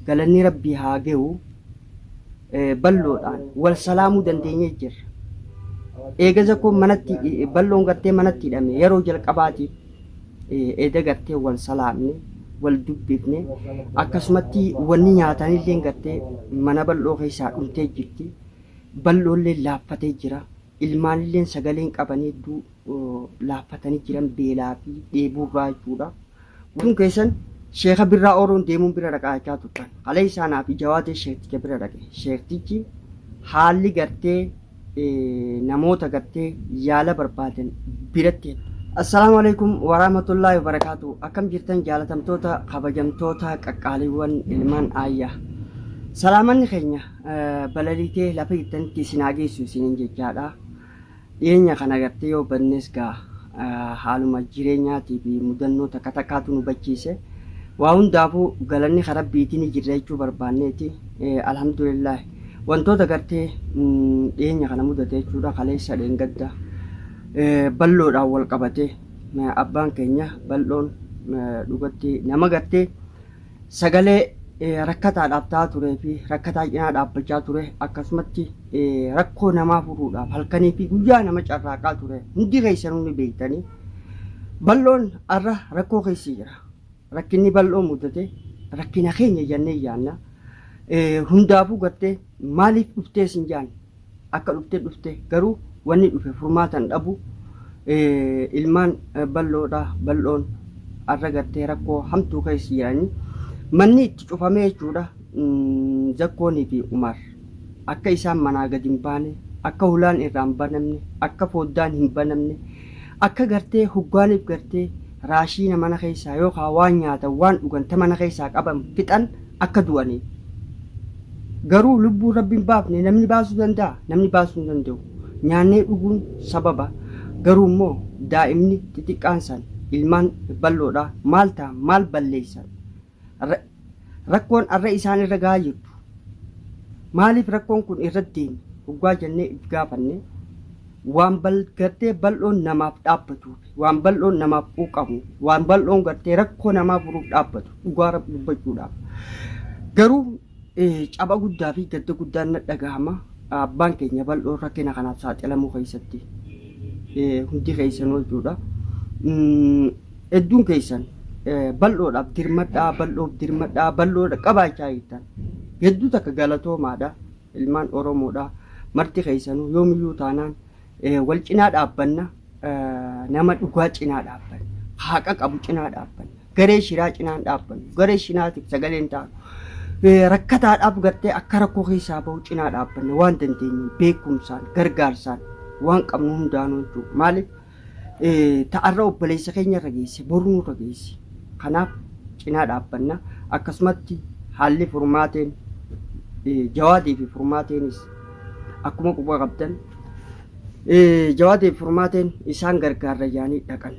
Galannii rabbii haa gehu balloodhaan wal salaamuu dandeenyee jirra eega zakoon manatti balloon gartee manatti hidhame yeroo jalqabaatiif eeda gartee wal salaamne wal dubbifne akkasumatti wanni nyaatanillee gartee mana bal'oo keessaa dhumtee jirti balloollee laaffatee jira ilmaanillee sagaleen qabanii hedduu laaffatanii jiran beelaa fi dheebuurraa jechuudha. Kun keessan sheeka birraa ooluun deemuun bira dhaqaachaa turtan. Halee isaa naa fi jawaadee sheekticha bira dhaqe. Sheektichi haalli gartee namoota gartee yaala barbaadan biratti heddu. Assalaamu alaikum waraamatullaahi wabarakaatu. Akkam jirtan jaalatamtoota kabajamtoota qaqqaaliiwwan ilmaan aayyaa. Salaamanni keenya balaliitee lafa jirtanitti isin haa geessu isiniin jechaadha. Dhiyeenya kana gartee yoo badnes gaa haaluma jireenyaatii fi mudannoo takka takkaatu nu bachiise. Waa hundaafuu galanni ka Rabbiiti ni jirra jechuu barbaanneeti. Alhamdulillaahi. Wantoota gartee dhiyeenya kana mudate jechuudha kaleessa dheengadda bal'oodhaan wal qabatee abbaan keenya bal'oon dhugatti nama gartee sagalee rakkataadhaaf ta'aa turee fi rakkataa cinaa dhaabbachaa ture akkasumatti rakkoo namaa furuudhaaf halkanii fi guyyaa nama carraaqaa ture hundi keessanuu ni beektanii bal'oon har'a rakkoo keessa jira rakkinni bal'oo mudate rakkina keenya jennee yaanna hundaafuu gartee maaliif dhuftee sin jaanne akka dhufte dhufte garuu wanni dhufe furmaatan dhabu ilmaan bal'oodha bal'oon arra gartee rakkoo hamtuu keessa jiranii manni itti cufamee jechuudha zakkoonii fi umar akka isaan manaa gad hin baane akka hulaan irraa hin banamne akka foddaan hin banamne akka gartee huggaaniif gartee raashiina mana keessaa yookaan waan nyaatan waan dhugan ta mana keessaa qaban fixan akka du'aniif. Garuu lubbuu Rabbi hin baafne namni baasuu danda'a? Namni baasuu hin danda'u. Nyaannee dhuguun sababa, garuu immoo daa'imni xixiqqaan san, ilmaan bal'oodha, maal ta'an, maal balleessan? Ra, rakkoon arra isaan irra gahaa jirtu, maaliif rakkoon kun irra deeme hoggaa jennee if gaafanne, waan bal, gartee bal'oon namaaf dhaabbatuuf. waan bal'oon namaaf quuqamu, waan bal'oon gartee rakkoo namaa furuuf dhaabbatu dhugaa Rabbi dubbachuudhaaf. Garuu caba guddaa fi gadda guddaan na dhagahama abbaan keenya bal'oon rakkina kanaaf saaxilamuu keessatti hundi keessanuu jechuudha. Hedduun keessan bal'oodhaaf dirmadhaa, bal'oof dirmadhaa, bal'oo qabaachaa jirtan hedduu takka galatoomaadha. Ilmaan Oromoodha. Marti keessanuu yoomiyyuu taanaan wal cinaa dhaabbanna. Nama dhugaa cinaa dhaabbanna. Haqa qabu cinaa dhaabbanna. Garee shiraa cinaa hin dhaabbannu. Garee shiraatiif sagalee hin taanu. Rakkataadhaaf gartee akka rakkoo keessaa bahu cinaa dhaabbanna. Waan dandeenyuun beekumsaan gargaarsaan waan qabnu hundaanuu jechuudha. Maaliif? ta arra obboleessa keenya irra geesse bor nurra geessi. Kanaaf cinaa dhaabbanna. Akkasumatti haalli furmaateen Jawaadii fi furmaateenis akkuma quba qabdan Jawaadii fi furmaateen isaan gargaarra yaanii dhaqan.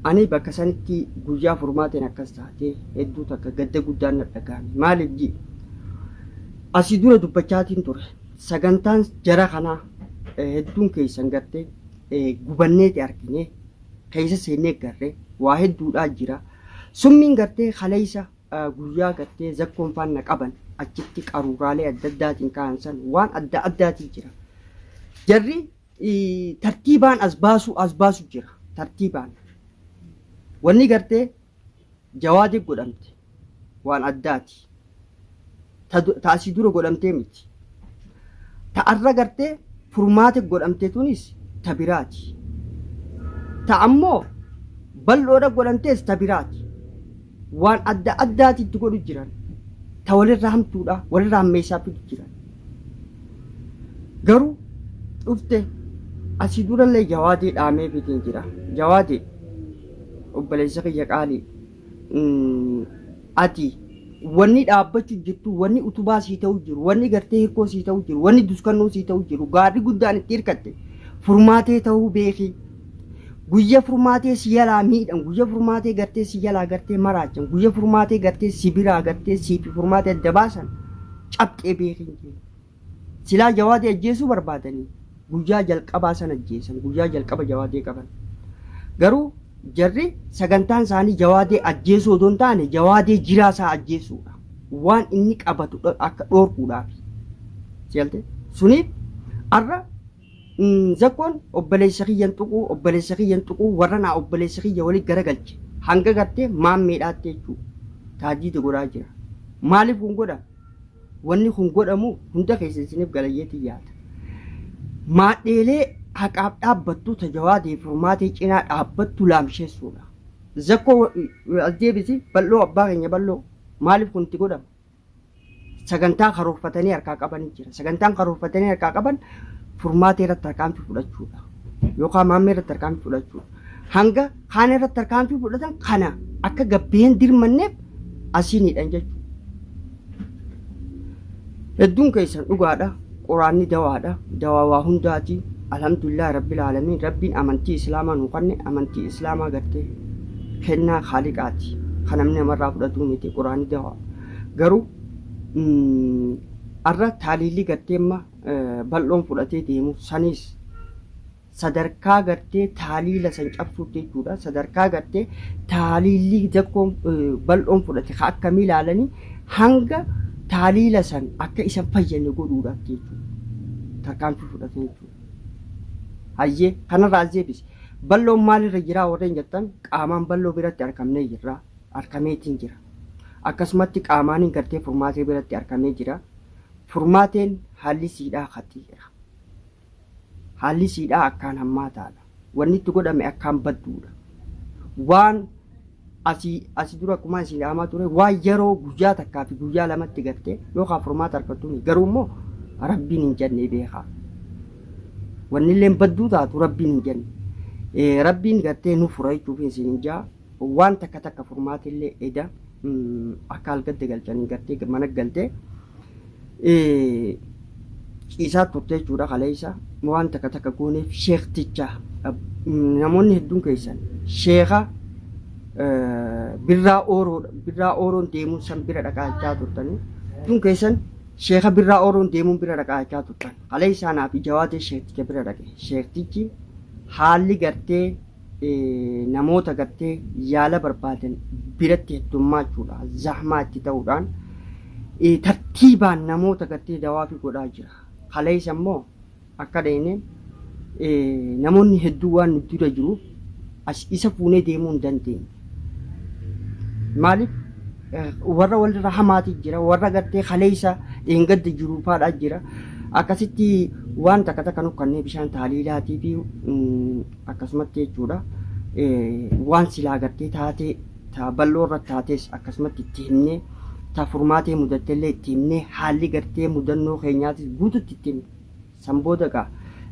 Ani bakka sanitti guyyaa furmaateen akkas taatee hedduu takka gadda guddaan na dhagahame. Maaliif ji'i? Asii dura dubbachaatiin ture. Sagantaan jara kanaa hedduun keessan gartee gubanneeti argine keessa seennee garre waa hedduudhaa jira summiin gartee kaleessa guyyaa gartee zakkoon faanna qaban achitti qaruuraalee adda addaatiin ka'an san waan adda addaatii jira jarri tartiibaan as baasuu as baasu jira tartiibaan wanni gartee jawaadiif godhamte waan addaati ta du- ta asii dura godhamtee miti ta arra gartee furmaate godhamte tunis ta biraati ta ammoo bal'oodha godhamtees ta biraati waan adda addaati itti godhu jiran ta walirra hamtuudha walirra hammeessaa fidu jiran garuu dhufte asii durallee jawaadee dhaamee fitiin jira jawaadee obboleessa kiyya qaalii mm, ati wanni dhaabbachu jirtu wanni utubaa sii ta'u jiru wanni gartee hirkoo sii ta'u jiru wanni duskannoo sii ta'u jiru gaarri guddaan itti hirkatte furmaatee ta'uu beeki guyya furmaatee si jalaa miidhan guyya furmaatee gartee si jalaa gartee maraachan guyya furmaatee gartee si biraa gartee siifi furmaatee adda baasan cabxee beekin jee Silaa jawaadee ajjeesuu barbaadanii guyyaa jalqabaa san ajjeesan guyyaa jalqaba jawaadee qaban garuu jarri sagantaan isaanii jawaadee ajjeesuu odoo hin taane jawaadee jiraa isaa ajjeesuudha waan inni qabatu dho- akka dhoorkuudhaafi sigalte suniif arra mm, zakkoon obboleessa kiyyan tuquu obboleessa kiyyan tuquu warra naa obboleessa kiyya waliin garagalche hanga gartee maammeedhaatte jechuu taadiida godhaa jira maaliif kun godha Wanni kun godhamu hunda keessa isiniif galayyeetiin yaada. Maadheelee haqaaf dhaabbattu ta Jawaadii furmaatee cinaa dhaabbattu laamsheessuudha. Zakkoo as deebisi bal'oo abbaa keenya bal'oo maaliif kun itti godhama? Sagantaa karoorfatanii harkaa qabanii jira. Sagantaan karoorfatanii harkaa qaban furmaatee irratti tarkaanfii fudhachuudha. Yookaan maammee irratti tarkaanfii fudhachuudha. Hanga kaan irratti tarkaanfii fudhatan kana akka gabbeen dirmanneef asiiniidhan jechuudha. Hedduun keessan dhugaadha. Quraanni dawaadha. Dawaa waa hundaati. Alhamdulillah Rabbil Aalamiin Rabbiin amantii Islaamaa nu kanne amantii Islaamaa gartee kennaa Khaaliqaati. Kan namni namarraa fudhatuu miti Quraanni dawaa. Garuu mm, arra taaliilli gartee amma eh, bal'oon fudhatee deemu saniis sadarkaa gartee taaliila san cabsuutti jechuudha. Sadarkaa gartee taaliilli dakkoon bal'oon fudhate ka akkamii ilaalanii hanga taaliila san akka isan fayyane godhuudhaaf jechuudha. Tarkaanfii fudhatan jechuudha. Hayyee kanarraa as deebise. Bal'oon maalirra jiraa warreen jettan qaamaan bal'oo biratti argamnee jirra. Argameetiin jira. Akkasumatti qaamaanin gartee furmaatee biratti argamee jira. Furmaateen haalli siidhaa haxii jira. Haalli siidhaa akkaan hammaataadha. Wanni itti godhame akkaan badduudha. Waan asi asi dura akkuma isin dhaamaa ture waan yeroo guyyaa takkaa fi guyyaa lamatti gartee yookaan furmaata argattu miti. Garuu immoo rabbiin hin jannee beekaa. Wannilleen badduu taatu rabbiin hin janne. Eh, Rabbiin gartee nu fura jechuuf isin hin jaa. Waan takka takka furmaatillee eda akka algadde galchanii gartee mana galte ciisaa turte jechuudha kaleessa waan takka takka gooneef sheekticha namoonni hedduun keessan sheeka birraa ooroo birraa ooroon deemuun san bira dhaqaachaa turtanii hedduun keessan sheeka birraa ooroon deemuun bira dhaqaachaa turtan kaleessaa naaf ijawaatee sheekticha bira dhaqe sheektichi haalli gartee namoota gartee yaala barbaadan biratti heddummaachuudha zahmaa itti ta'uudhaan tartiibaan namoota gartee dawaafii godhaa jira. Kaleessa immoo akka dhayne namoonni hedduu waan nu dura jiruuf as isa fuunee deemuu hin dandeenye. Maaliif warra walirra hamaati jira warra gartee kaleessa dheengadda jiru faadhaa jira akkasitti waan takka takka nu kannee bishaan taaliilaatii fi akkasumatti jechuudha waan silaa gartee taatee taa bal'oo irratti taatees akkasumatti itti himnee taa furmaatee mudatte illee itti himnee haalli gartee mudannoo keenyaatis guututti itti himne san booda egaa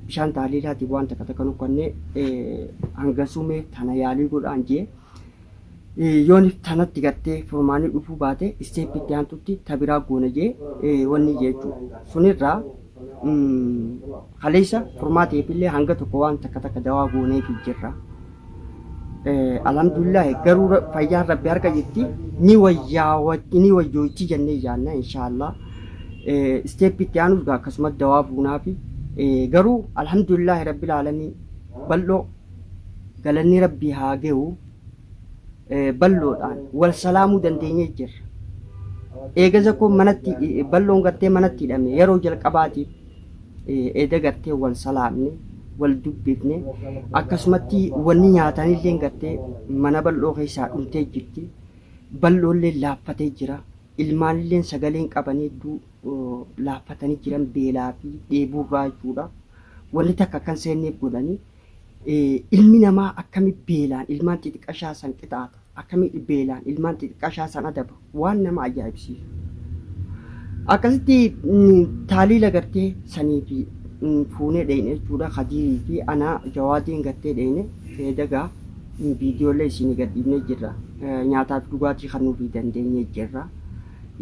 bishaan taaliilaatiif waan takka takka nukkannee hangasumee tana yaalii godhaan jee yoon tanatti gartee furmaanii dhufuu baate isteeppi itti aantutti tabiraa goona jee wanni jechuudha sunirraa Kaleessa furmaata eebillee hanga tokko waan takka takka dawaa gooneefi jirra. Alhamdulillah garuu fayyaan rabbi harka jirti ni wayyaa ni wayyoochi jennee yaanna inshaallah. Isteeppi itti aanus gaa akkasumas dawaa buunaafi garuu alhamdulillah rabbil aalamiin bal'oo galanni rabbii haa gahu. balloodhaan wal salaamuu dandeenyee jirra. Eegaza koo manatti balloon gartee manatti hidhame yeroo jalqabaatiif eeda gartee wal salaamne wal dubbifne akkasumatti wanni nyaatanillee gartee mana bal'oo keessaa dhumtee jirti. Bal'oollee laaffatee jira. Ilmaanillee sagaleen qabanii hedduu laaffatanii jiran beelaa fi dheebuurraa jechuudha. Wanni takka kan seenneef godhanii Ilmi namaa akkami beelaan ilmaan xixiqqashaa san qixaaxa? Akkami beelaan ilmaan xixiqqashaa san adaba? Waan nama ajaa'ibsiisu. Akkasitti taaliila gartee sanii fi fuunee dheeyne jechuudha. Kadiirii fi anaa jawaadiin gartee dheeyne feedagaa viidiyoolee isinii gadhiifnee jirra. Nyaataa fi dhugaatii kan nuufii dandeenyee jirra.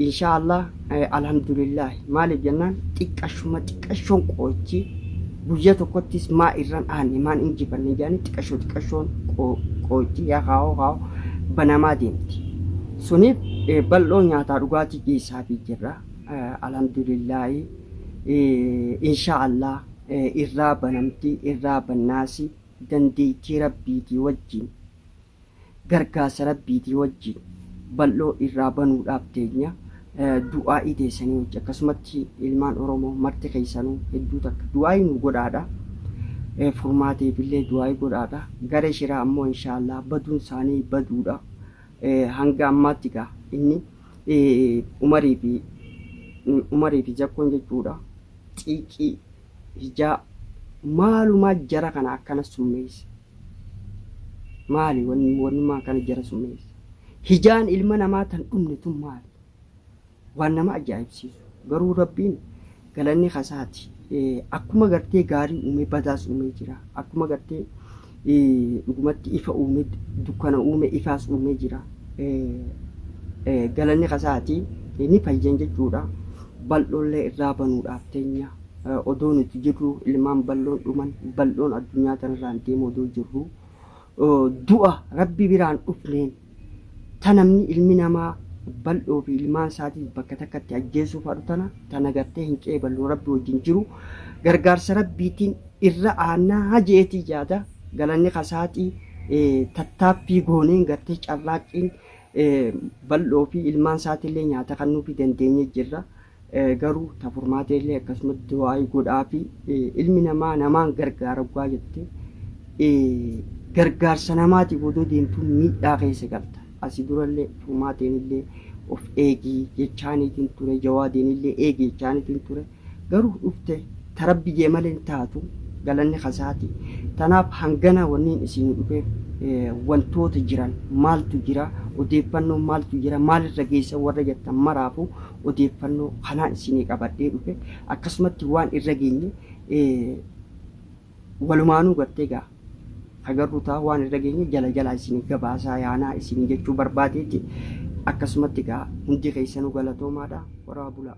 Inshaa Allaah Alhamdulillaah maaliif jennaan xiqqashuma xiqqashoon qooychi guyya tokkottis maa irran aanne maan injifanne jaanii xiqqashoo xiqqashoon qooychi yaa kaa'oo kaa'oo banamaa deemti. Suniif bal'oo nyaataa dhugaatii geessaafi jirra. Alhamdulillaah inshaa Allaah irraa banamti irraa bannaasi dandeettii rabbiitii wajjiin. gargaarsa rabbiitii wajjiin bal'oo irraa banuudhaaf teenya du'aa'ii teessanii wajji akkasumatti ilmaan oromoo marti keessanuu hedduu takka du'aa'ii nu godhaadha furmaateefillee du'aa'ii godhaadha garee shiraa ammoo inshaallah baduun isaanii baduudha hanga ammaatti gaa inni umarii fi umarii fi zakkoon jechuudha xiiqii hijaa maalumaa jara kana akkana summeesse Maali wanni wannumaa kana jara summeessa? Hijaan ilma namaa tan dhumne tun maali? Waan nama ajaa'ibsiisu. Garuu Rabbiin galanni kasaati. Akkuma gartee gaarii uumee badaas uumee jira. Akkuma gartee dhugumatti ifa uumee dukkana uumee ifaas uumee jira. Galanni kasaati ni fayyan jechuudha. Bal'oollee irraa banuudhaaf teenya. odoo nuti jirru ilmaan bal'oon dhuman bal'oon addunyaa tanarraan deemu odoo jirru du'a rabbi biraan dhufneen ta namni ilmi namaa bal'oo fi ilmaan isaatiif bakka takkatti ajjeesuuf haadhu tana tana gartee hin qeeballu rabbi wajjin jiru gargaarsa rabbiitiin irra aanaa hajeetii jaada galanni kasaatii tattaaffii gooneen gartee carraaqqiin bal'oo fi ilmaan isaatiillee nyaata kan nuufi dandeenye jirra. Garuu ta furmaatee illee akkasumatti du'aa'ii godhaafi ilmi namaa namaan gargaara oggaa jette gargaarsa namaatiif odoo deemtuu miidhaa keessa galta. Asi durallee furmaateen illee of eegii jechaaniitiin ture jawaadeen illee eegi jechaaniitiin ture garuu dhufte ta rabbi jee malee hin taatu galanni kasaati. Tanaaf hangana wanniin isiin dhufeef wantoota jiran maaltu jira odeeffannoon maaltu jira maalirra geessan warra jettan maraafu odeeffannoo kanaan isinii qabadhee dhufe akkasumatti waan irra geenye walumaanuu gartee gaa hagarru ta'a waan irra geenye jala jalaa isinii gabaasaa yaanaa isinii jechuu barbaadeeti akkasumatti gaa hundi keessanuu galatoomaadha horaa bulaa.